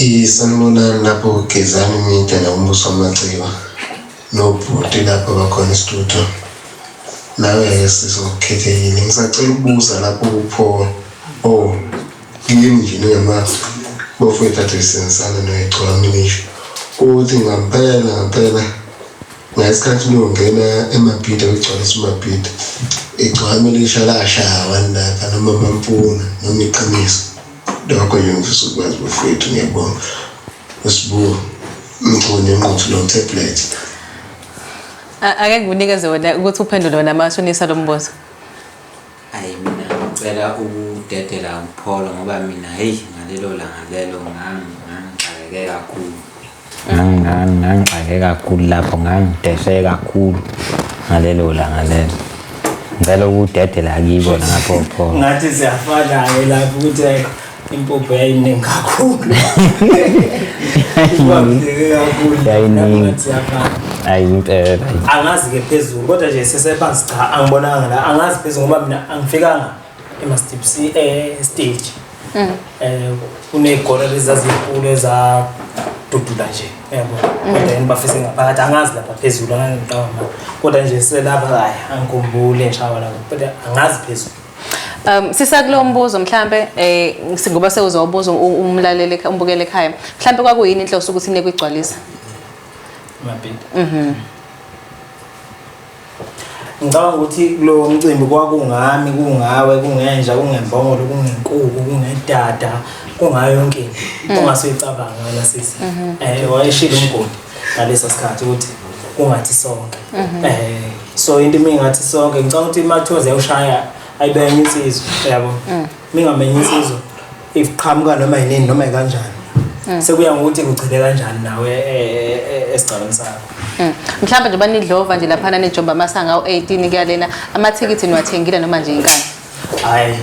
Isanibonani lapho Gezani Media nakuMbuso Wamaciba nobhuti lapho bakhona estudio nawe-ke sizokhethekile ngisacela ukubuza lapho kupho o kimi nje ningamazi bofowethu athe sisebenzisana noyegcwami ngisho ukuthi ngampela ngampela Ngesikhathi nongena eMabhida kugcwale isiMabhida. Igcwame lisha lashaya wanaka noma mampuna noma iqiniso. Lokho nje ngifisa ukwazi bafowethu ngiyabonga. Usibuka mchuni enquthu lo tablet. Ake ngikunikeze wona ukuthi uphendule wena mashonisa lo mbuzo. Ayi mina ngicela ukudedela upholo ngoba mina heyi ngalelo langa lelo ngangixakeke kakhulu ngangixakeke kakhulu lapho ngangideshe kakhulu ngalelo langa lelo ngicela ukudedela kibo lapho pholo ngathi siyafana-ke lapho ukuthi impuphu yayiningi kakhulu angazi ke phezulu kodwa nje sesephansi cha angibonanga la angazi phezulu ngoba mina angifikanga emastipsi eh, estage um mm. eh, kuney'golo ebezazinkulu ezadudula nje yabo mm. kodwa yini bafise ngaphakathi angazi lapha phezulu angangiqamba kodwa nje selapha kaye angikhumbule ngishawa lapho kodwa angazi phezulu Um sisakulo mbuzo mhlambe eh ngoba sewuzobuza umlaleli umbukele ekhaya. Mhlambe kwakuyini inhloso ukuthi neke igcwalisa? Mabhidi. Mhm. Ngicabanga ukuthi kulo mcimbi kwakungami, kungawe, kungenja, kungembongolo, kungenkuku, kungedada, kungayo yonke into. Mm. Ongase uyicabanga wena sisi. Mhm. Eh wayeshilo umgodi ngaleso sikhathi ukuthi kungathi sonke. Mhm. Eh so into mina ngathi sonke ngicabanga ukuthi imathoza yoshaya ayibenye insizwa yabo mm. mingamenye insizwa iqhamuka noma yinini noma kanjani mm. sekuya ngokuthi kugcine kanjani nawe e, e, e, esigcabeni sakho mm. mhlawumbe nje banidlova nje laphana nejoba amasanga u-18 kuyalena amathikithi niwathengile noma nje inkani hayi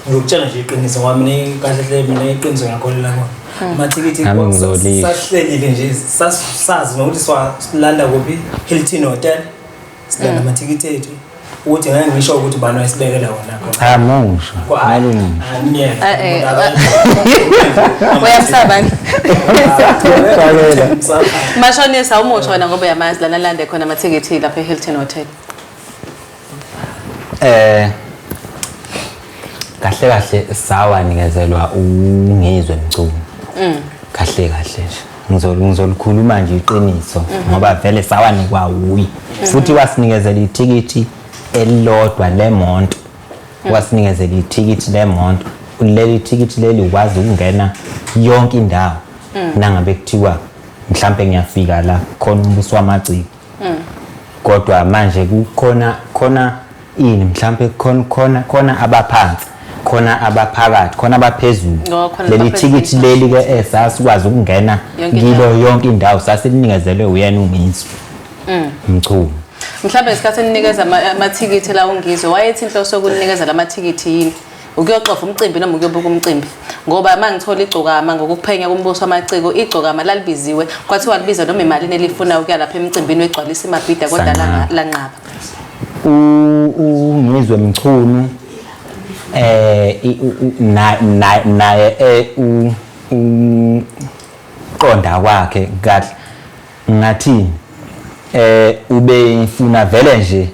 ngiyokutshela nje iqiniso ngoba mina kahle hle mina iqiniso ngiyakholela kona hmm. amathikithi Nami ngizolile. sahlelile nje sas- sazi nokuthi siwa- silanda kuphi hilton hotel silanda hmm. amathikithi ethu ukuthi ngeke ngisho ukuthi bani wayesibekela wona khona Cha musho. Kwa- hayi, Ngalunga. hayi, myeke. Ah, eh, Umuntu akazi. uyamsaba nje Uxakela. Msaba. mashonisa umusho wena ngoba uyamazi lana lande khona amathikithi lapha e-hilton hotel Eh kahle kahle sawa nikezelwa ungizwe mculo. Mm. Kahle kahle nje. Ngizolu ngizolukhuluma nje iqiniso mm-hmm. ngoba vele sawa nikwa wuyi. Mm-hmm. Futhi wasinikezela ithikithi elilodwa lemonto. Mm. Wasinikezela ithikithi lemonto. Leli thikithi leli ukwazi ukungena yonke indawo. Mm. Nangabe kuthiwa mhlambe ngiyafika la khona umbuso wamagciko. mm. kodwa manje kukhona khona ini mhlambe khona khona khona abaphansi khona abaphakathi khona abaphezulu leli thikithi leli ke eh, sasikwazi ukungena kilo yonke indawo sasilinikezele uyena uMinsu mm. mchunu mhlawumbe isikhathi eninikeza amathikithi la ungizwe wayethi inhloso yokunikeza lamathikithi yini ukuyoxova umcimbi noma ukuyobuka umcimbi ngoba uma ngithola igcokama ngokuphenya kumbuso amaciko igcokama lalibiziwe kwathiwa libiza noma imalini elifuna ukuya lapha emcimbini wegcwalisa imabhida kodwa Sanqaba. lanqaba U- ungizwe mchunu eh i- u- u- na- na- naye eh, u- u- qonda kwakhe kahle Ngathini? Eh ubengifuna vele nje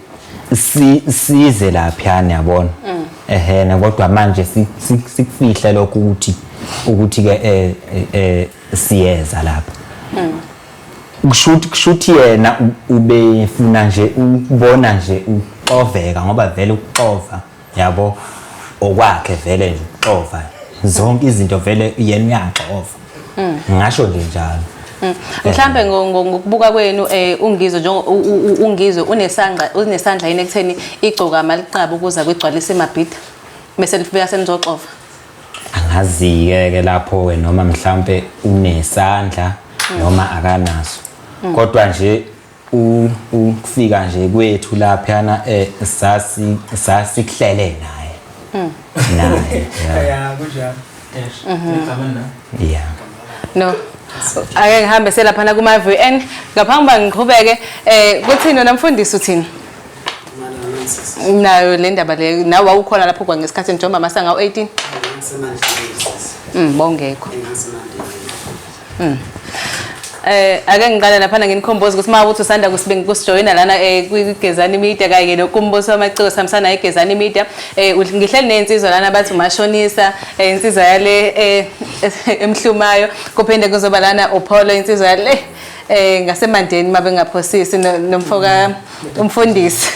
si size laphiyana yabona. Mm. Ehhe na kodwa manje sikufihle lokho ukuthi ukuthi ke eh, eh, eh siyeza lapha. Mm. Kushuthi kushuthi yena ubefuna nje ukubona nje uxoveka ngoba vele ukuxova. yabo okwakhe vele nje uxova zonke izinto vele yena uyaxova mm. ngasho nje njalo mm. mhlambe ngokubuka kwenu eh ungizwe njengoba ungizwe unesandla unesandla yini ekutheni igcoka amaliqaba ukuza kwigcwalisa emabhida bese lifika senizoxova angazi-ke ke lapho ke noma mhlampe unesandla mm. noma akanaso kodwa nje u ukufika nje kwethu laphana eh sasi sasikuhlele naye mm. naye yeah kunjalo yes ngicabanga mm-hmm. yeah no ake ngihambe selaphana kuma VN ngaphambi ba ngiqhubeke eh kuthini wena mfundisi uthini nayo le ndaba le nawe wawukhona lapho kwa ngesikhathi njengoba masanga u18 mm bongekho Mm. Eh ake ngiqale lapha nginikhomboze ukuthi mawuthi usanda kusibingi kusijoyina lana eh kwigezani media kanye nokumbuso wamaciko samsana igezani media eh ngihleli nensizwa lana bathi umashonisa eh insizwa yale eh emhlumayo kuphinde kuzoba lana upholo insizwa yale eh ngasemandeni mabengaphosisi nomfoka mm. umfundisi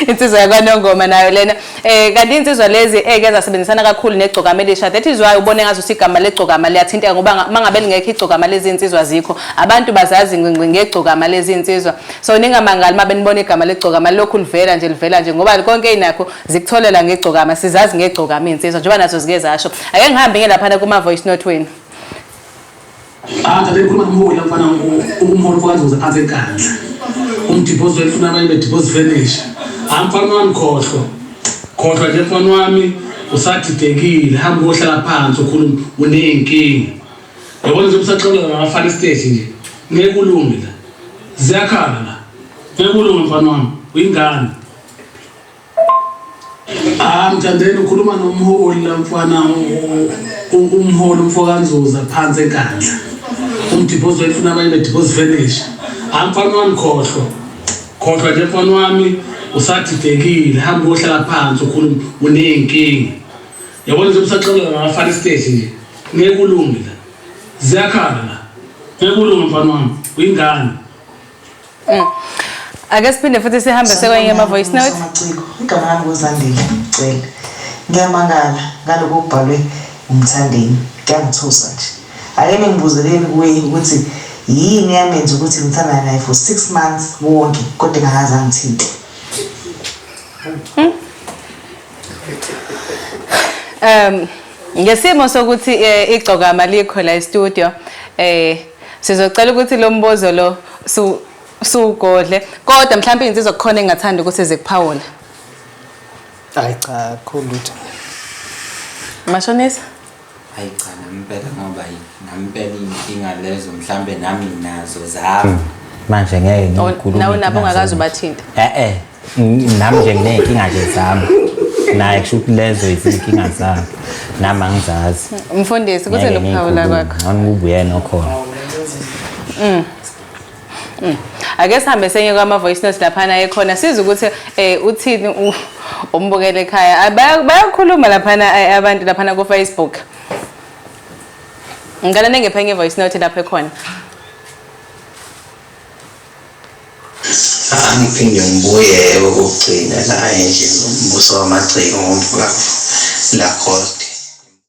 insizwa yakwanongoma nayo lena eh kanti insizwa lezi eke zasebenzisana kakhulu negcokama elisha that is why ubone ngazo sigama legcokama liyathinteka ngoba mangabe lingekho igcokama lezi insizwa zikho abantu bazazi ngqingqi ngegcokama lezi insizwa so ningamangali mabe nibona igama legcokama lokhu livela nje livela nje ngoba konke inakho zikutholela ngegcokama sizazi ngegcokama insizwa njengoba nazo zike zasho ake ngihambe ngelaphana kuma voice note wenu Ngiphatha bekhuluma ngomholi mfana umholi kwazuza phansi enkandla. Umdipozi wethu funa abanye bedipozi finish. Hayi mfana wami khohlwa. Khohlwa nje mfana wami usadidekile hamba uyohlala phansi ukhuluma uneyinkinga. Yabona nje usaxolela ngabafana isiteji nje. Ngeke kulunge la. Ziyakhala la. Ngeke kulunge mfana wami. Uyingane. Ah mthandeni ukhuluma nomholi la mfana umholi umfokanzuza phansi enkandla. Umdiphozi wayifuna abanye bediphozi finish. Ah mfana wami khohlwa. Khohlwa nje mfana wami usadidekile hamba uyohlala phansi ukhuluma uneyinkinga. Yabona nje usaxolela ngafana stage nje. Ngeke ulunge la. Ziyakhala la. Ngeke ulunge mfana wami uyingane. Mm. Ake siphinde futhi sihambe sekwenye ama voice note. Amaciko igama lami ngozandile ngicela. Ngiyamangala ngaloko kubhalwe umthandeni. Kuyangithusa nje. Ake ningibuzeleni kuwe ukuthi yini yamenza ukuthi ngithandane naye for 6 months wonke kodwa engakaze angithinte. Hmm? Um ngesimo sokuthi eh, igcokama likho la e-studio eh Sizocela ukuthi lo mbozo lo su sugodle kodwa mhlawumbe insizwa kukhona engathanda ukuthi zikuphawula. Hayi cha khulutho. Mashonisa? Hayi cha nampela ngoba yini? Nampela inkinga lezo mhlawumbe nami nginazo zami. Manje ngeke ngikhulume. Nawe nabo ungakazi ubathinta. Eh eh. Ng- nami nje nginey'nkinga nje zami naye kusho ukuthi lezo izinkinga zami nami angizazi mfundisi kuze Ngeke lokuphawula ngiyikhulume. kwakho Ngcono kube uyena okhona ake sihambe senye kwama-voice notes laphana ekhona siza ukuthi um uthini u- umbukele ekhaya Ah, baya- bayakhuluma laphana eh, abantu laphana kufacebook ngicela ningiphe enye i-voice note lapho ekhona Angiphinde ngibuye okokugcina la endlini, uMbuso wamaCiko ngoMfulafula, Lacoste.